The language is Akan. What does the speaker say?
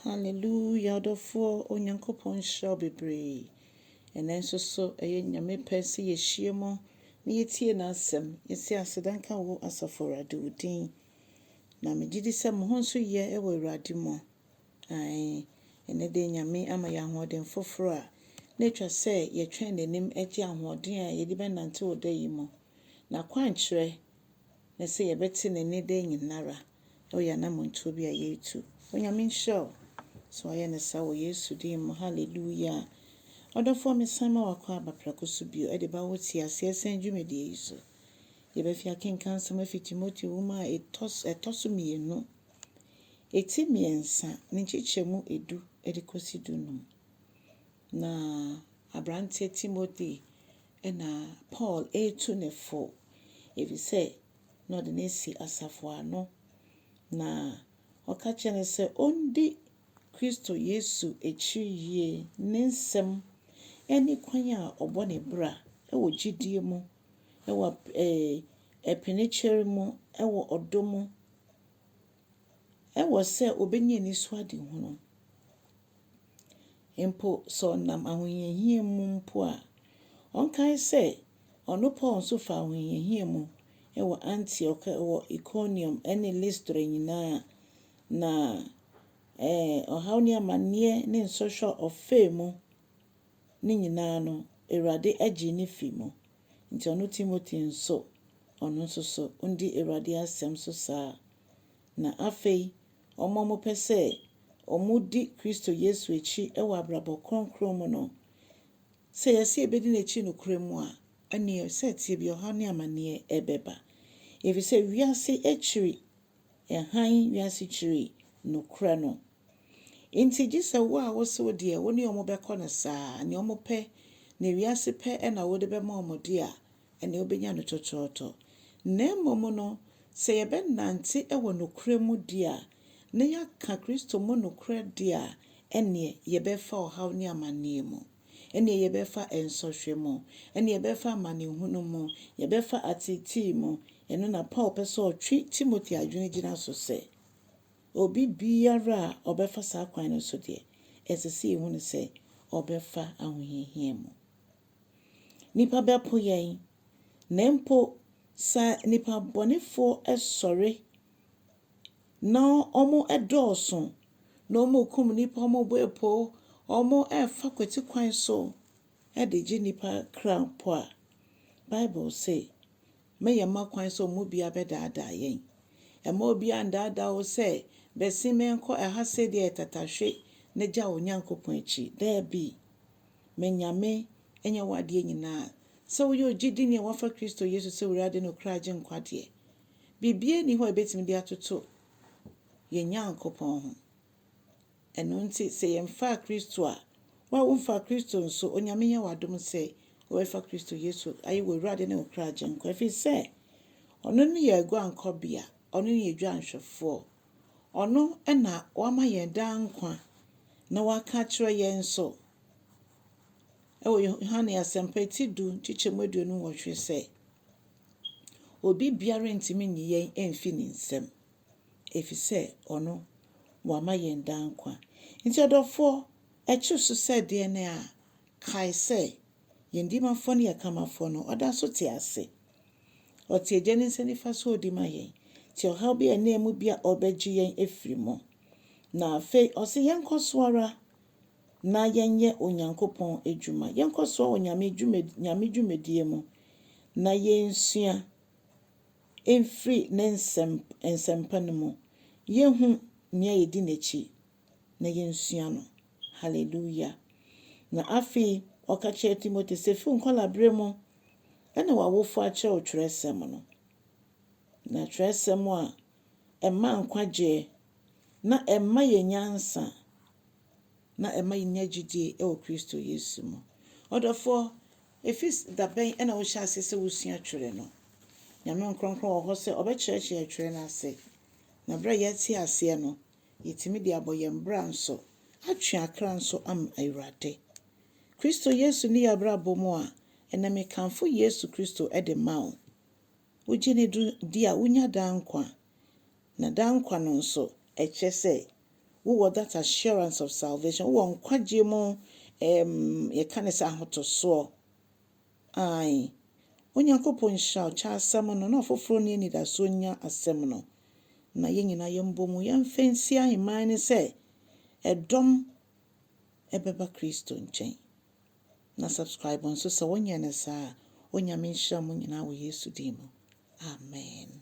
Hallelujah ɔdɔfoɔ Onyankopɔn nhyira wo bebree. Ɛnɛ nso so ɛyɛ Nyame pɛ sɛ yɛhyia mu na yɛtie n'asɛm. Yɛsi aseda nka wo Asafo Awurade wo din. Na megye di sɛ mo ho nso yɛ wɔ Awurade mu. Ae, ɛnɛ deɛ Nyame ama yɛ ahoɔden foforɔ a na atwa sɛ yɛtwɛn n'anim gye ahoɔden a yɛde bɛnante wɔ da yi mu. N'akwankyerɛ ne sɛ yɛbɛte ne nne da nyinara. Ɔyɛ anammɔntuo bi a yɛretu. Onyame nhyira wo sɛ wayɛ no saa wɔ Yesu din mu. Hallelujah. Ɔdɔfoɔ mesan ma wakɔ aba prɛko so bio ɛde ba wo te aseɛ sɛn dwumadie yi so. Yɛbɛfi akenkan nsɛm afi Timoteo nwoma a ɛtɔ ɛtɔ so mmienu, ɛti mmiɛnsa ne nkyekyɛmu edu ɛde kɔsi du num. Na abranteɛ Timothy ɛna Paul ɛretu ne fo ɛfiri sɛ na ɔde no asi asafo ano, na ɔka kyerɛ no sɛ ɔndi Kristo Yesu akyi yie, ne nsɛm ne kwan a ɔbɔ ne bra wɔ gyidie mu, wɔ ɛɛ ɛpenekyɛre mu, wɔ ɔdɔ mu. Ɛwɔ sɛ obenya anisoadehunu. Mpo sɛ ɔnam ahohiahia mu mpo a, ɔnkae sɛ ɔno Paul nso faa ahohiahia mu wɔ Antiok, wɔ Ikoniom, ne Listra nyinaa, na ɛɛ, ɔhaw ne amanneɛ ne nsɔhwɛ a ɔfaa mu no nyinaa no, Awurade gyee no fii mu. Nti ɔno Timothy nso, ɔno nso so ondi Awurade asɛm so saa. Na afei, wɔn a wɔpɛ sɛ wɔdi Kristo Yesu akyi wɔ abrabɔ kronkron mu no, sɛ yɛse yɛbɛdi N'akyi nokorɛ mu a, ɛneɛ sɛ ɛteɛ bia ɔhaw ne amaneɛ ɛbɛba. Ɛfiri sɛ wiase akyiri hann, wiase kyiri nokorɛ no. Enti gye sɛ wo a wose wo deɛ wo ne wɔn bɛkɔ no saa, nea wɔpɛ, nea wiase pɛ na wode bɛma wɔn de a, ɛnneɛ wobɛnya no tɔtɔɔtɔ. Na mmom no, sɛ yɛbɛnante wɔ nokorɛ mu di a, na yɛaka Kristo mu nokorɛ de a, ɛnneɛ yɛbɛfa ɔhaw ne amanneɛ mu, ɛnneɛ yɛbɛfa nsɔhwɛ mu, ɛnneɛ yɛbɛfa amanehunu mu, yɛbɛfa ateetee mu. Ɛno na Paul pɛ sɛ ɔtwe Timothy adwene gyina so sɛ. Obi biara a ɔbɛfa saa kwan no so deɛ, ɛsɛ sɛ yɛhu no sɛ ɔbɛfa ahohiahia mu. Nnipa bɛpo yɛn, na mpo sɛ nnipa bɔnefoɔ sɔre na wɔdɔɔso, na wɔrekum nnipa, wɔrebɔ apo, wɔrefa kwati kwan so de gye nnipa kra mpo a, Bible se, Mɛyɛ mma kwan sɛ wɔn mu biara bɛdaadaa yɛn. Mma obiara nnaadaa wo sɛ, 'Bɛse menkɔ ɛha sɛdeɛ ɛyɛ tatahwe na gya wo Nyankopɔn akyi. Daabi. Me Nyame nyɛ w'adeɛ nyinaa. Sɛ woyɛ ogyidini a woafa Kristo Yesu sɛ W'Awurade ne Ɔkra Agyenkwa deɛ, biribiara nni hɔ a ɛbɛtumi de atoto yɛn Nyankopɔn ho. Ɛno nti, sɛ yɛmfaa Kristo a, wo a womfaa Kristo nso, Onyame nyɛ wo adom sɛ wobɛfa Kristo Yesu ayɛ w'Awurade ne wo kra Agyenkwa, ɛfiri sɛ Ɔno ne yɛn aguankɔbea, Ɔno ne yɛn dwanhwɛfoɔ, Ɔno na wama yɛn daa nkwa, na waka akyerɛ yɛn nso wɔ Yohane Asɛmpa ti du nkyekyɛmu aduonu nwɔtwe sɛ, Obi biara ntumi nyi yɛn mfi ne nsam. Efisɛ ɔno, wama yɛn daa nkwa. Enti ɔdɔfoɔ, ɛkyere so sɛ deɛ ne a, kae sɛ, yɛn Dimafoɔ ne yɛn Kamafoɔ no, ɔda so te ase. Ɔte Agya no nsa nifa so a ɔdi ma yɛn, te ɔhaw bi a ɛnna mu bi a ɔrebɛgye yɛn afiri mu. Na afei ɔse yɛnkɔ so ara na yɛnyɛ Onyankopɔn adwuma. Yɛnkɔ so ara wɔ Nyame dwuma, Nyame dwumadie mu na yɛnsua. Firi ne nsɛm, Nsɛmpa no mu. Yɛnhu Nea Yɛdi N'akyi, na yɛnsua No. Hallelujah! Na afei ɔka kyerɛɛ Timothy sɛ, Fi wo nkwadaa-berɛ mu na w'awofoɔ akyerɛ wo twerɛsɛm no, na twerɛsɛm a ɛma nkwagyeɛ, na ɛma yɛn nyansa, Na ɛma yenya gyidie wɔ Kristo Yesu mu. Ɔdɔfoɔ, ɛfiri da bɛn na wohyɛɛ aseɛ sɛ wosua Twerɛ no? Nyame Nkorɔnkorɔn wɔ hɔ sɛ ɔbɛkyerɛkyerɛ yɛ Twerɛ no ase. Na berɛ a yɛate aseɛ no, yɛtumi de abɔ yɛn bra nso, atwe akra nso ama Awurade. Kristo Yesu ne yɛ abrabɔ mu a, ɛnnɛ mekamfo Yesu Kristo de ma wo. Wogye no di a, wonya daa nkwa. Na daa nkwa no nso, ɛkyerɛ sɛ wowɔ that assurance of salvation, wowɔ nkwagyeɛ mu ɛɛm yɛka no sɛ ahotosoɔ. Ae. Onyankopɔn nhyira wo, kyɛ asɛm no, na ɔfoforɔ nni anidasoɔ nnya asɛm no. Na yɛn nyinaa yɛmbɔ mu, yɛmfa nsi ahemman no sɛ ɛdɔm ɛbɛba Kristo nkyɛn. Na subscribe nso sɛ wonyɛ no saa a. Onyame nhyira mo nyinaa wɔ Yesu din mu. Amen.